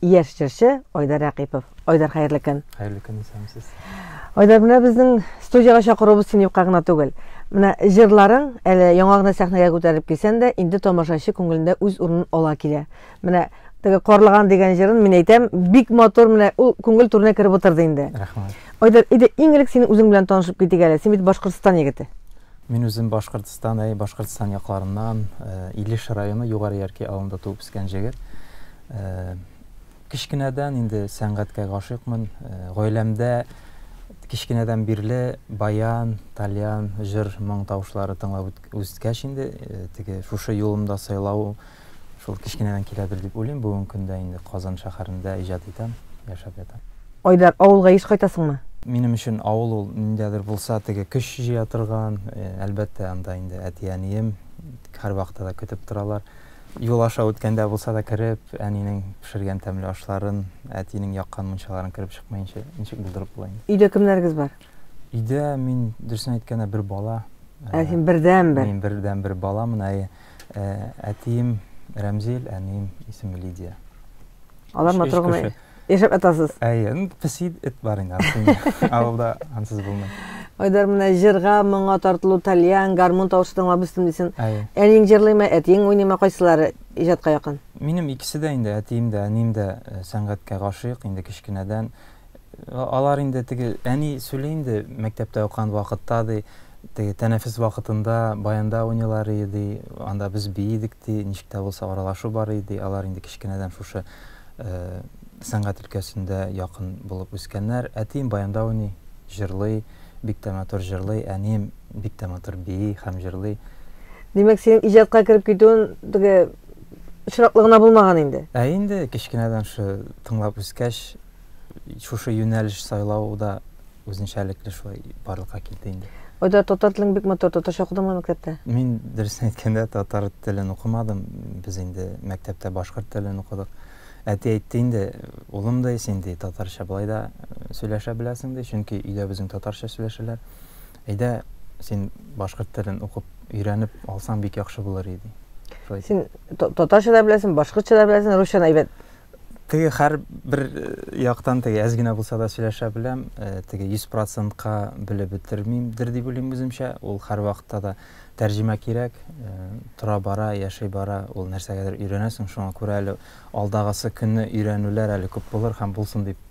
яшь җырчы Айдар Рәкыйпов. Айдар, хәерле көн. Хәерле көн, исәнмесез. Айдар, менә безнең студиягә чакыруыбыз син юкка гына түгел. Менә җырларың әле яңа гына сәхнәгә күтәрелеп килсәң дә, инде тамашачы күңелендә үз урынын ала килә. Менә теге Карлыган дигән җырын мин әйтәм, бик матур, менә ул күңел түренә кереп утырды инде. Рәхмәт. Айдар, иде иң элек синең үзең белән танышып китик әле. Син бит Башкортстан егете. Мин үзем Башкортстан, әй, Башкортстан якларыннан, э, Илеш районы Югары Ярки авылында туып үскән җегет. Кечкенәдән инде сәнгатькә гашыйкмын. Гаиләмдә кечкенәдән бирле баян, тальян, җыр, моң тавышлары тыңлап үскәч инде, теге шушы юлымда сайлау шул кечкенәдән киләдер дип уйлыйм. Бүгенге көндә инде Казан шәһәрендә иҗат итәм, яшәп ятам. Айдар, авылга еш кайтасыңмы? Минем өчен авыл ул ниндидер булса теге көч җыя торган, әлбәттә, анда инде әти-әнием һәрвакытта да көтеп торалар. Юл аша үткәндә булса да кереп, әнинең пешергән тәмле ашларын, әтинең яккан мунчаларын кереп чыкмаенча ничек булдырып була инде? Өйдә кемнәрегез бар? Өйдә мин, дөресен әйткәндә, бер бала. Ә син бердәнбер? Мин бердәнбер баламын, әйе. Әтием Рәмзил, әнием исеме Лидия. Алар матур гына Яшәп атасыз. Әйе, песи эт бар инде ансыз. Авылда ансыз булмый. Айдар менә җырга, моңа тартылу, тальян, гармун тавышы тыңлап үстем дисен. Әниең җырлыймы, әтиең уйныймы, кайсылары иҗатка якын? Минем икесе дә инде, әтием дә, әнием дә э, сәнгатькә гашыйк инде кечкенәдән. Э, алар инде теге әни сөйли инде мәктәптә укыган вакытта ди, теге тәнәфес вакытында баянда уйныйлар иде, анда без биидек ди, ничек тә булса аралашу бар иде, алар инде кечкенәдән шушы сәнгать өлкәсендә якын булып үскәннәр. Әтием баянда уйный, җырлый, бик тә матур җырлый, әнием бик тә матур бии һәм җырлый. Димәк, синең иҗатка кереп китүен теге очраклы гына булмаган инде. Ә инде кечкенәдән шушы тыңлап үскәч, шушы юнәлеш сайлау да Үзенчәлекле шулай барлыкка килде инде. Айдар, татар телең бик матур, татарча укыдыңмы мәктәптә? Мин, дөресен әйткәндә, татар телен укымадым, без инде мәктәптә башкорт телен укыдык. Әти әйтте инде, улым ди, син ди, татарча болай да сөйләшә беләсең ди, чөнки өйдә безнең татарча сөйләшәләр. Әйдә, син башкорт телен укып, өйрәнеп алсаң бик яхшы булыр иде. Син татарча да беләсең, башкортча да беләсең, русчаны әйбәт Теге хәр бер э, яктан теге әз генә булса да сөйләшә беләм, э, теге 100%-ка белеп бетермимдер дип уйлыйм үземчә. Ул хәр вакытта да тәрҗемә кирәк. Э, тора бара, яши бара, ул нәрсәгәдер өйрәнәсең, шуңа күрә әле алдагысы көнне өйрәнүләр әле күп булыр һәм булсын дип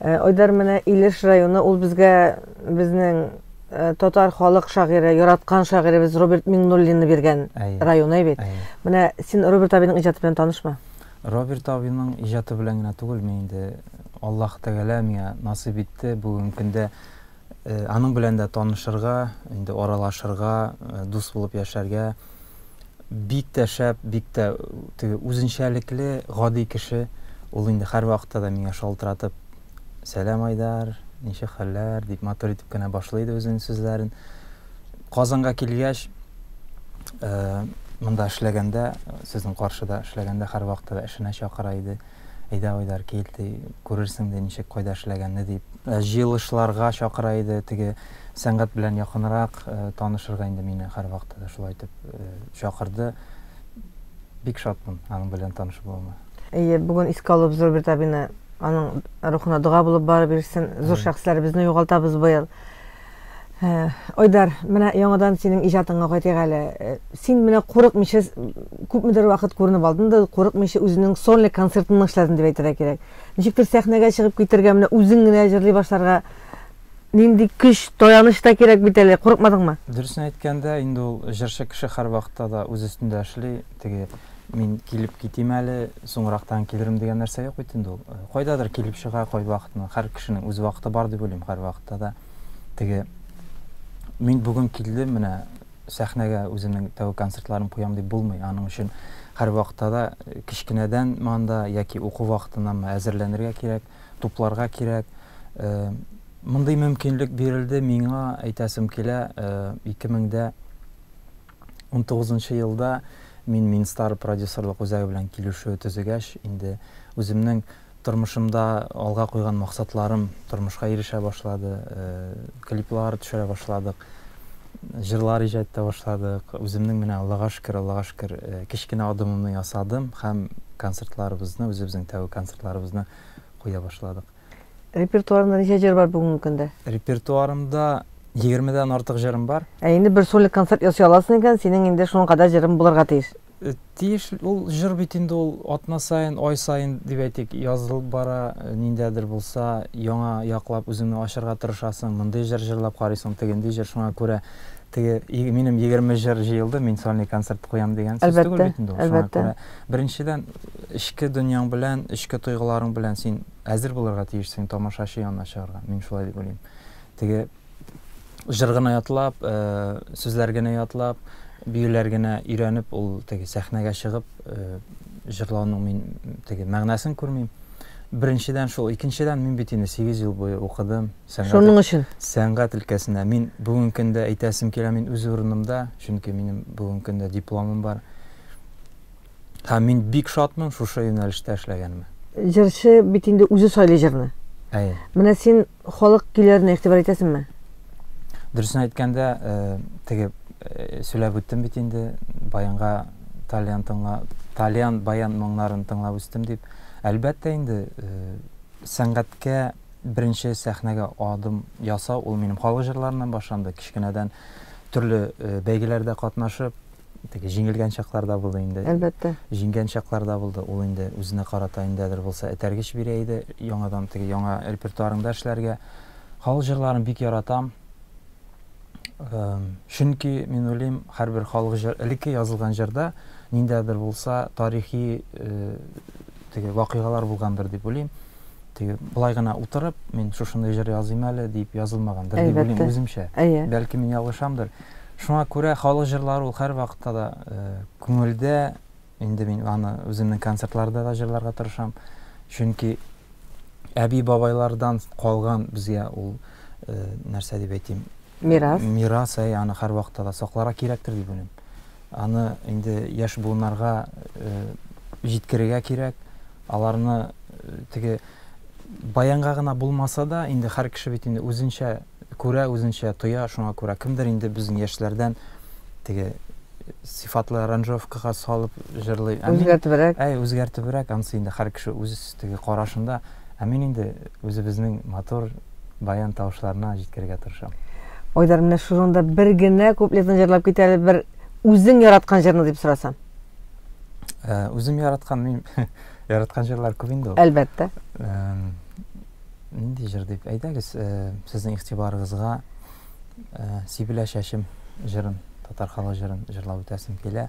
Э, Айдар менә Илеш районы, ул безгә безнең э, татар халык шагыйре, яраткан шагыйребез Роберт Миңнуллинны биргән район әй бит. Менә син Роберт абиның иҗаты белән танышмы? Роберт абиның иҗаты белән генә түгел, мин инде Аллаһ Тәгалә миңа насыйп итте бүгенге көндә Аның белән дә танышырга, инде аралашырга, дус булып яшәргә. Бик тә шәп, бик тә теге үзенчәлекле, гади кеше. Ул инде һәрвакытта да миңа шалтыратып, Сәлам, Айдар, ничек хәлләр? дип матур итеп кенә башлый иде үзенең сүзләрен. Казанга килгәч, монда эшләгәндә, сезнең каршыда эшләгәндә һәрвакытта да эшенә чакыра иде. Әйдә, Айдар, кил, ди, күрерсең, ди, ничек, кайда эшләгәнне, дип. Җыелышларга чакыра иде, теге сәнгать белән якынрак танышырга инде мине һәрвакытта да шулай итеп чакырды. Бик шатмын аның белән таныш булуыма. Әйе, бүген искә алып зур бер табины, аның рухына дога булып барып йөрсен. Зур шәхесләребезне югалтабыз быел. Э, Айдар, менә яңадан синең иҗатыңа кайтыйк әле. Э, син менә курыкмыйча күпмедер вакыт күренеп алдың да, курыкмыйча үзенең сольный концертын эшләдең дип әйтергә кирәк. Ничектер сәхнәгә чыгып китергә, менә үзең генә җырлый башларга нинди көч, таяныч та кирәк бит әле. Курыкмадыңмы? Дөресен әйткәндә, инде ул җырчы кеше һәрвакытта да үз өстендә эшли. Теге, мин килеп китим әле, соңрактан килерем дигән нәрсә юк бит инде ул. Кайдадыр килеп чыга кайвакытны. Һәр кешенең үз вакыты бар дип уйлыйм, һәрвакытта да. Теге, мин бүген килдем, менә сәхнәгә үземнең тәүге концертларым куям дип булмый. Аның өчен һәрвакытта да кечкенәдән монда яки уку вакытыннан әзерләнергә кирәк, тупларга кирәк. Мондый мөмкинлек бирелде миңа, әйтәсем килә, 2000 дә 19 нчы елда мин Минстар продюсерлык үзәге белән килешү төзегәч, инде үземнең тормышымда алга куйган максатларым тормышка ирешә башлады. Клиплар төшерә башладык, җырлар иҗат итә башладык. Үземнең менә, Аллага шөкер, Аллага шөкер, кечкенә адымымны ясадым һәм концертларыбызны, үзебезнең тәүге концертларыбызны куя башладык. Репертуарында ничә җыр бар бүгенге көндә? Репертуарымда 20-дән артык җырым бар. Ә инде бер сольный концерт ясый аласың икән, синең инде шуның кадәр җырың булырга тиеш. Э, тиеш ул җыр бит инде ул атна сайын, ай сайын дип әйтик, язылып бара, э, ниндәдер булса, яңа яклап үзеңне ачарга тырышасың, мондый җыр җырлап карыйсың, тегенди җыр, шуңа күрә Теге минем егерме җыр җыелды, мин сольный концерт куям дигән сүз түгел бит инде ул. Әлбәттә, әлбәттә. Беренчедән, эчке дөньяң белән, эчке тойгыларың белән син әзер булырга тиешсең тамашачы янына чыгарга. Мин шулай дип уйлыйм. Теге җыр гына ятлап, э, сүзләр генә ятлап, биюләр генә өйрәнеп, ул теге сәхнәгә чыгып, э, җырлауның мин теге мәгънәсен күрмим. Беренчедән шул, икенчедән мин бит инде 8 ел буе укыдым. Шуның өчен. Сәнгать өлкәсенә. Мин бүгенге көндә әйтәсем килә, мин үз урынымда, чөнки минем бүгенге көндә дипломым бар. Һәм мин бик шатмын шушы юнәлештә эшләгәнемә. Җырчы бит инде үзе сайлый җырны. Әйе. Менә син халык көйләренә игътибар итәсеңме? Дөресен әйткәндә, теге сөйләп үттем бит инде, баянга тальян тыңла, тальян баян моңнарын тыңлап үстем дип. Әлбәттә инде, сәнгатькә Беренче сәхнәгә адым ясау ул минем халык җырларыннан башланды. Кечкенәдән төрле бәйгеләрдә катнашып, теге җиңелгән чаклар да булды инде. Әлбәттә. Җиңгән чаклар да булды. Ул инде үзенә карата ниндәдер булса этәргеч бирә иде, яңадан теге яңа репертуарыңда эшләргә. Халык җырларын бик яратам. Чөнки мин уйлыйм, һәрбер халык җыр, элекке язылган җырда ниндәдер булса тарихи теге вакыйгалар булгандыр дип уйлыйм. теге былай гына утырып мин шушындай җыр языйм әле дип язылмагандыр дип уйлыйм үземчә әйе бәлки мин ялгышамдыр шуңа күрә халык җырлары ул һәрвакытта да э, күңелдә инде мин аны үземнең концертларда да җырларга тырышам чөнки әби бабайлардан калган безгә ул э, нәрсә дип әйтим мирас мирас әй аны һәрвакытта да сакларга кирәктер дип уйлыйм Аны инде яшь буыннарга җиткерергә кирәк, аларны теге баянга гына булмаса да, инде һәр кеше бит инде үзенчә күрә, үзенчә тоя, шуңа күрә кемдер инде безнең яшьләрдән теге сыйфатлы аранжировкага салып җырлый. Үзгәртебрәк. Әй, үзгәртебрәк, анысы инде һәр кеше үз теге карашында. Ә мин инде үзебезнең матур баян тавышларына җиткерергә тырышам. Айдар, менә шунда бер генә куплетын җырлап кит әле, бер үзең яраткан җырны дип сорасам. Э, үзем яраткан, мин яраткан җырлар күп инде ул. Әлбәттә. Нинди җыр дип әйдәгез, э, сезнең игътибарыгызга э, Сибелә чәчем җырын, татар халык җырын җырлап үтәсем килә.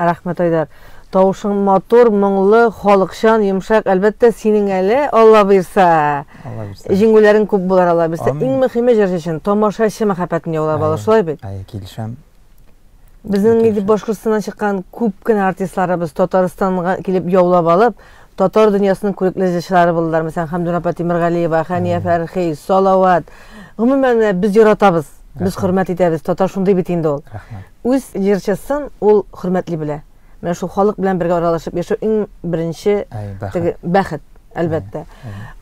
Рәхмәт, Айдар. Тавышың матур, моңлы, халыкчан, йомшак. Әлбәттә, синең әле, Алла бирса. Алла бирса. Җиңүләрең күп булар, Алла бирса. Иң мөхиме җырчы өчен тамашачы мәхәббәтен яулап алу, шулай бит? Әйе, килешәм. Безнең инде Башкортстаннан чыккан күп кенә артистларыбыз Татарстанга килеп яулап алып, татар дөньясының күрекле җырчылары булдылар. Мәсәлән, Хәмдүн апа Тимергалиева, Хәния Фәрхи, Салават. Гомумән, без яратабыз, без хөрмәт итәбез. Татар шундый бит инде ул. Рәхмәт. Үз җырчысын ул хөрмәтли белә. Менә шул халык белән бергә аралашып яшәү иң беренче теге бәхет, әлбәттә.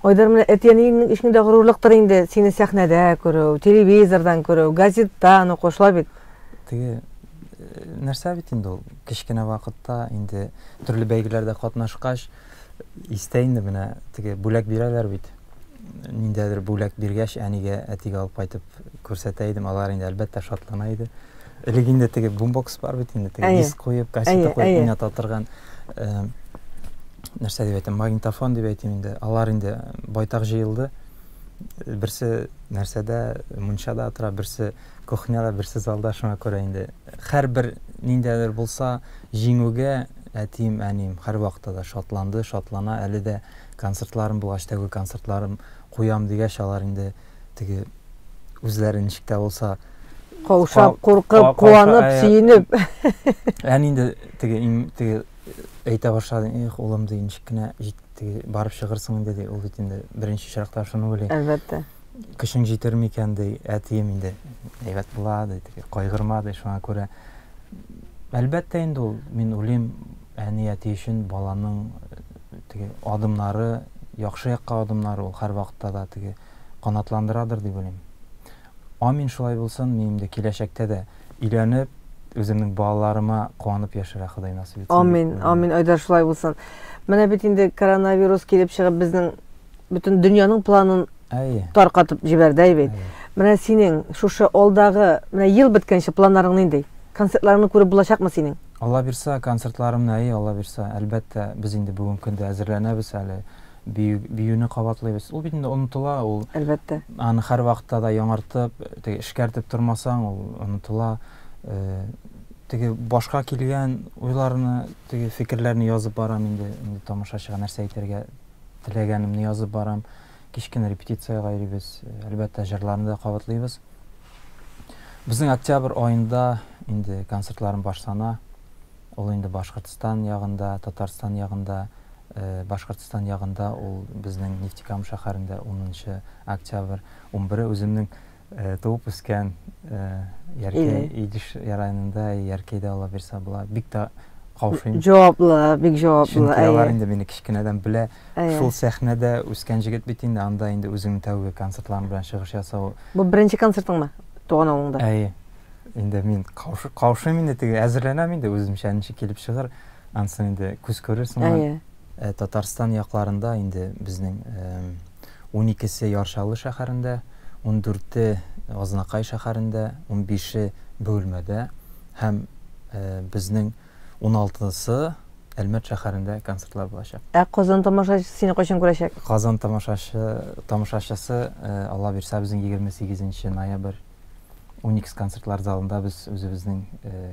Айдар, менә әти-әниеңнең өчен дә горурлыктыр инде сине сәхнәдә күрү, телевизордан күрү, газеттан уку, шулай бит? Теге нәрсә бит инде ул, кечкенә вакытта инде төрле бәйгеләрдә катнашкач, истә инде менә теге бүләк бирәләр бит. ниндәдер бүләк биргәч, әнигә, әтигә алып кайтып күрсәтә идем. Алар инде әлбәттә шатлана иде. Элек инде теге бумбокс бар бит инде, теге диск куеп, кассета куеп уйната торган э, нәрсә дип әйтәм, магнитофон дип әйтим инде. Алар инде байтак җыелды. Берсе нәрсәдә, мунчада тора, берсе кухняда, берсе залда, шуңа күрә инде һәрбер ниндәдер булса җиңүгә әтием, әнием һәрвакытта да шатланды, шатлана, әле дә Концертларым булгач тәүге концертларым куям дигәч алар инде теге үзләре ничек тә булса каушап куркып куанып сөенеп әни инде теге теге әйтә башлады эх улым ди ничек кенә теге барып чыгырсың инде ди ул бит инде беренче очракта шуны уйлый әлбәттә көчең җитер микән ди әтием инде әйбәт була ди теге кайгырма ди шуңа күрә әлбәттә инде ул мин уйлыйм әни әти өчен баланың Теге адымнары, яхшы якка адымнары ул һәрвакытта да теге канатландырадыр дип уйлыйм. Амин шулай булсын, минем дә киләчәктә дә өйләнеп, үземнең балаларыма куанып яшәргә Ходай насыйп итсен дип Амин, уйлыйм. амин, Айдар, шулай булсын. Менә бит инде коронавирус килеп чыгып безнең бөтен дөньяның планын Әйе. таркатып җибәрде, әй бит. Әйе. Менә синең шушы алдагы, менә ел беткәнче планнарың нинди? Концертларыңны күреп булачакмы синең? Аллабирса, концертларымны Әйе, Аллабирса, әлбәттә, без инде бүгенге көндә әзерләнәбез әле, бию, биюне кабатлыйбыз. Ул бит инде онытыла, ул, Әлбәттә. аны һәрвакытта да яңартып, теге эшкәртеп тормасаң, ул онытыла. Э, теге башка килгән уйларны, теге фикерләрне язып барам инде, инде тамашачыга нәрсә әйтергә теләгәнемне язып барам. Кичкене репетициягә йөрибез, әлбәттә, җырларны да кабатлыйбыз. Безнең октябрь аенда инде концертларым башлана. Ул инде Башкортстан ягында, Татарстан ягында, Башкортстан ягында ул безнең Нефтекама шәһәрендә 10 нчы октябрь, 11 үземнең туып үскән Яркәй, Идеш районында, Яркәйдә ала бирсә була. Бик тә каушыйм. Җаваплы, бик җаваплы. Чөнки алар инде мине кечкенәдән белә. Шул сәхнәдә үскән җегет бит инде, анда инде үзеңнең тәүге концертларың белән чыгыш ясау. Бу беренче концертыңмы туган авылыңда? Әйе. Инде мин каушыйм инде теге, әзерләнәм инде үземчә, ничек килеп чыгыр. Ансын инде күз күрерсең. Әйе. Татарстан якларында инде безнең уникесе Яршалы шәһәрендә, ундүрте Азнакай шәһәрендә, унбише Бөгелмәдә һәм безнең Уналтысы Әлмәт шәһәрендә концертлар булачак. Ә Казан тамашачысы сине кайчан күрәчәк? Казан тамашачы, тамашачысы, Алла бирсә, безнең егерме сигезенче ноябрь Уникс концертлар залында без үзебезнең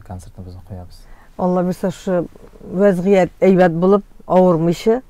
концертыбызны куябыз. Алла бирсә, шушы вәзгыять әйбәт булып, авырмыйча.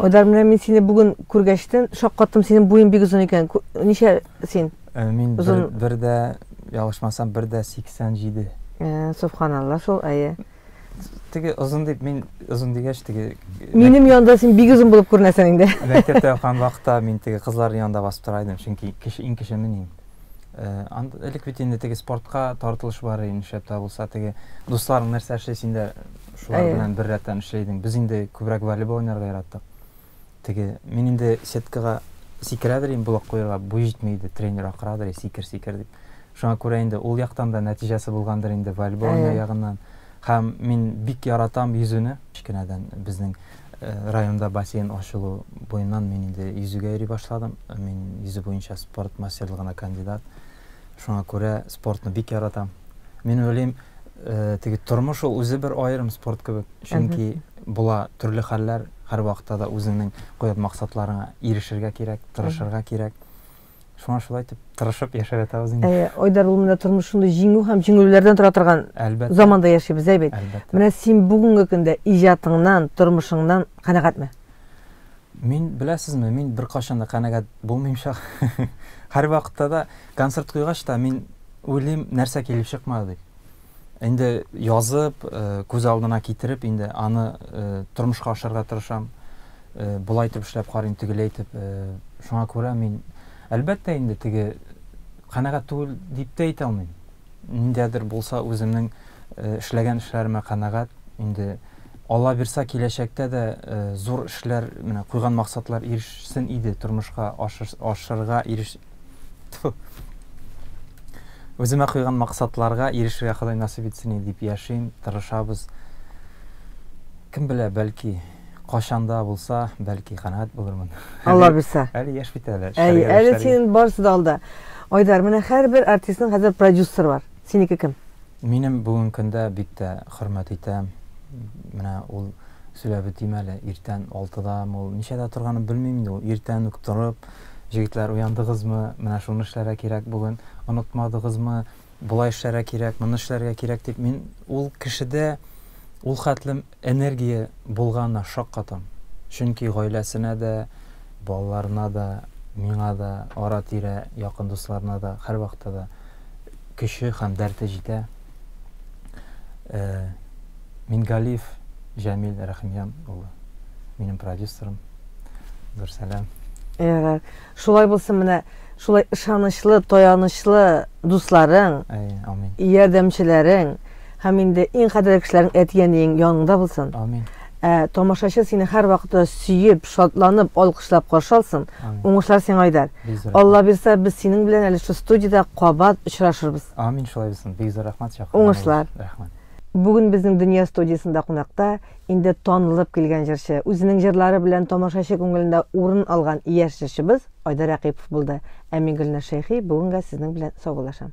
Айдар, менә мин сине бүген күргәчтен, шаккаттым, синең буең бик озын икән. Ничә син? Э, мин бер, бер дә, ялгышмасам, бер дә 87. Э, Субханалла, шул әйе. Теге озын дип мин озын дигәч теге Минем янда син бик озын булып күренәсең инде. Мәктәптә укыган вакытта мин теге кызлар янында басып тора идем, чөнки кеше иң кеше мин инде. Анда элек бит инде теге спортка тартылыш бар иде, нишләп тә булса теге дусларың нәрсә эшли, син дә шулар белән беррәттән эшли идең. Без инде күбрәк волейбол уйнарга яраттык. Теге, мин инде сеткага сикерәдер инде блок куярга буй җитми иде, тренер акырадыр, сикер, сикер дип. Шуңа күрә инде ул яктан да нәтиҗәсе булгандыр инде волейбольный ягыннан. Һәм мин бик яратам йөзүне. Кечкенәдән безнең э, районда бассейн ачылу буеннан мин инде йөзүгә йөри башладым. Мин йөзү буенча спорт мастерлыгына кандидат. Шуңа күрә спортны бик яратам. Мин уйлыйм, э, теге тормыш ул үзе бер аерым спорт кебек. Чөнки була төрле хәлләр, һәрвакытта да үзеңнең куйган максатларыңа ирешергә кирәк, тырышырга кирәк. Шуңа шулай итеп тырышып яшәп ятабыз инде. Әйе, Айдар, ул менә тормыш шундый җиңү һәм җиңелүләрдән тора торган Әлбәттә. заманда яшибез, әй бит. Әлбәттә. Менә син бүгенге көндә иҗатыңнан, тормышыңнан канәгатьме? Мин, беләсезме, мин беркайчан да канәгать булмыйм чак. Һәрвакытта да концерт куйгач та мин уйлыйм, нәрсә килеп чыкмады дип. Инде язып, э, күз алдына китереп, инде аны э, тормышка ашырга тырышам. Э, Болай итеп эшләп карыйм, тегеләй итеп. Э, Шуңа күрә мин, әлбәттә, инде теге канәгать түгел дип тә әйтә алмыйм. Ниндәдер булса үземнең эшләгән эшләремә канәгать. Инде Алла бирса киләчәктә дә зур эшләр, менә куйган максатлар ирешсен иде, тормышка ашырга иреш Үземә куйган максатларга ирешергә Ходай насыйп итсен дип яшим, тырышабыз. Кем белә, бәлки Кайчан да булса, бәлки канәгать булырмын. Алла бирсә. Әле яшь бит әле. Әй, әле синең барысы да алда. Айдар, менә һәрбер артистның хәзер продюсер бар. Синеке кем? Минем бүгенге көндә бик тә хөрмәт итәм. Менә ул сөйләп үтим әле. Иртән 6-да ул ничәдә торганын белмим инде. Ул иртән үк торып, җегетләр уяндыгызмы? Менә шуны эшләргә кирәк бүген. Онытмадыгызмы? Болай эшләргә кирәк, моны эшләргә кирәк дип мин ул кешедә ул хәтле Энергия булганы шаккатам. Чөнки гаиләсенә дә, балаларына да, миңа да, ара-тирә якын дусларына да һәрвакытта да көче һәм дәрте җитә. Мингалиев Җәмил Рәхимҗан улы, минем продюсерым. Зур сәлам. Ярар. Шулай булсын менә шулай ышанычлы, таянычлы дусларың, ярдәмчеләрең һәм инде иң кадерле кешеләрең әти-әниең яныңда булсын. Амин. Ә тамашачы сине һәр вакытта сөеп, шатланып, алкышлап каршы алсын. Уңышлар сиңа Айдар. Алла бирса, без синең белән әле шу студиядә кабат очрашырбыз. Амин, шулай булсын. Бик зур рәхмәт чакыруга. Уңышлар. Рәхмәт. Бүген безнең Дөнья студиясендә кунакта Инде танылып килгән җырчы, үзенең җырлары белән тамашачы күңелендә урын алган яшь җырчыбыз Айдар Әкыйпов булды. Ә мин Гөлназ Шәйхи бүгенгә сезнең белән саубуллашам.